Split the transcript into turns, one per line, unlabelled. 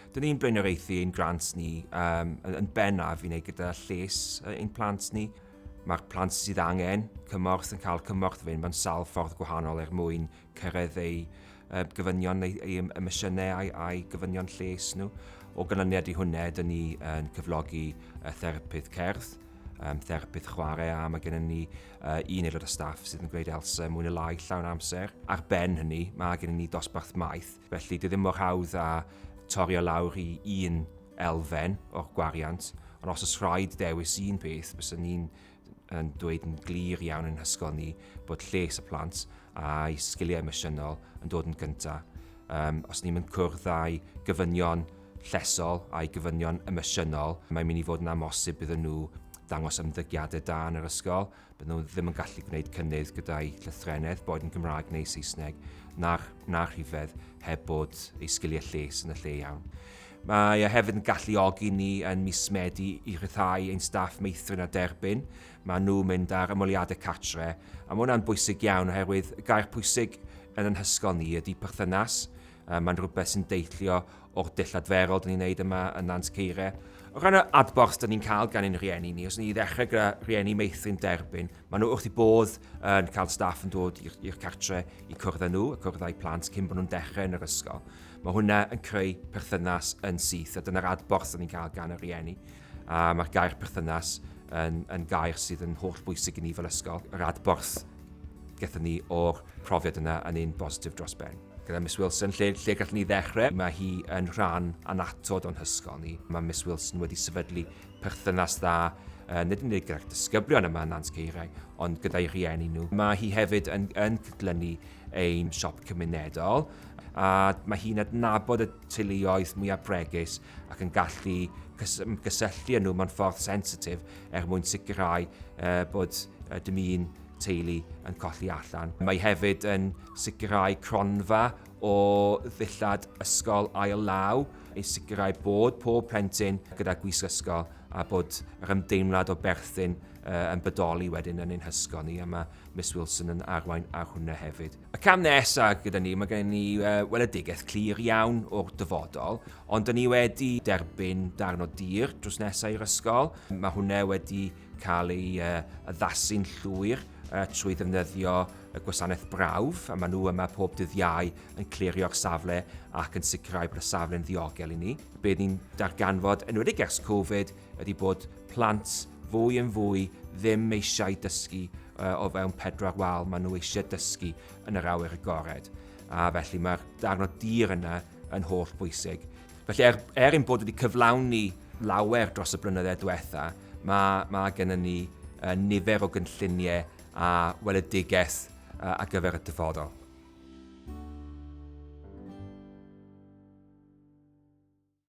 Dyn ni'n blaenoriaethu ein grant ni um, yn bennaf i wneud gyda lles ein plant ni. Mae'r plant sydd angen cymorth yn cael cymorth fe mewn sawl ffordd gwahanol er mwyn cyrraedd eu uh, gyfynion, eu, eu emosiynau a'i, a'i gyfynion lles nhw. O ganlyniad i hwnna, dyn ni yn cyflogi uh, therapydd cerdd, yym therapydd chwarae a mae gennym ni uh, un aelod o staff sydd yn gwneud Elsa mwy neu lai llawn amser. Ar ben hynny, mae gennym ni dosbarth maeth, felly dwi ddim mor hawdd a torio lawr i un elfen o'r gwariant, ond os oes rhaid dewis un peth, bys ni'n yn dweud yn glir iawn yn hysgol ni bod lles y plant a'i sgiliau emosiynol yn dod yn gyntaf. Um, os ni'n mynd cwrdd â'i gyfynion llesol a'i gofynion emosiynol, mae'n mynd i fod yn amhosib iddyn nhw dangos ymddygiadau da yn yr ysgol, bydden nhw ddim yn gallu gwneud cynnydd gyda'u llythrennedd, boed yn Gymraeg neu Saesneg, na'r, na'r rhifedd, heb bod ei sgiliau lles yn y lle iawn. Mae e hefyd yn galluogi ni yn mis Medi i rhyddhau ein staff meithrin a derbyn. Mae nhw'n mynd ar ymweliadau catre, a mae hwnna'n bwysig iawn oherwydd y gair pwysig yn ein hysgol ni ydy perthynas, Yy mae'n rhywbeth sy'n deillio o'r dull adferol dyn ni'n neud yma yn Nant Ceire. O ran y adborth dyn ni'n cael gan ein rhieni ni, os ni ddechrau gyda rhieni meithrin derbyn, maen nhw wrth i bodd yn cael staff yn dod i'r cartre i cwrdd â nhw, y cwrdd â'u plant cyn bod nhw'n dechrau yn yr ysgol. Mae hwnna yn creu perthynas yn syth a dyna'r adborth dyn ni'n cael gan y rhieni. A mae'r gair perthynas yn, yn gair sydd yn holl bwysig i ni fel ysgol. Yr adborth gyda ni o'r profiad yna yn un bositif dros ben. Gyda Miss Wilson, lle, lle gallwn ni ddechrau? Mae hi yn rhan anatod o'n hysgol ni. Mae Miss Wilson wedi sefydlu perthynas dda uh, nid yn unig gyda'r disgyblion yma yn Nant Ceiriau, ond gyda'i rhieni nhw. Mae hi hefyd yn, yn cydlynu ein siop cymunedol, a mae hi'n adnabod y teuluoedd mwyaf bregus ac yn gallu cysylltu â nhw mewn ffordd sensitif er mwyn sicrhau uh, bod uh, dim un teulu yn colli allan. Mae hefyd yn sicrhau cronfa o ddillad ysgol ail law i sicrhau bod pob plentyn gyda gwisg ysgol a bod yr ymdeimlad o berthyn uh, yn bodoli wedyn yn ein hysgol ni a mae Miss Wilson yn arwain ar hwnna hefyd. Y cam nesa gyda ni, mae gen ni uh, weledigaeth clir iawn o'r dyfodol, ond dyn ni wedi derbyn darn o dir drws nesaf i'r ysgol. Mae hwnna wedi cael ei uh, addasu'n llwyr uh, trwy ddefnyddio y gwasanaeth brawf, a maen nhw yma pob dydd iau yn clirio'r safle ac yn sicrhau bod y safle'n ddiogel i ni. Bydd ni'n darganfod, yn wedi gers Covid, ydy bod plant fwy yn fwy ddim eisiau dysgu uh, o fewn pedwar wal, maen nhw eisiau dysgu yn yr awyr agored. A felly mae'r darn o dir yna yn holl bwysig. Felly er, er ein bod wedi cyflawni lawer dros y blynyddoedd diwetha, mae, mae gennym ni uh, nifer o gynlluniau a weledigaeth uh, ar gyfer y dyfodol.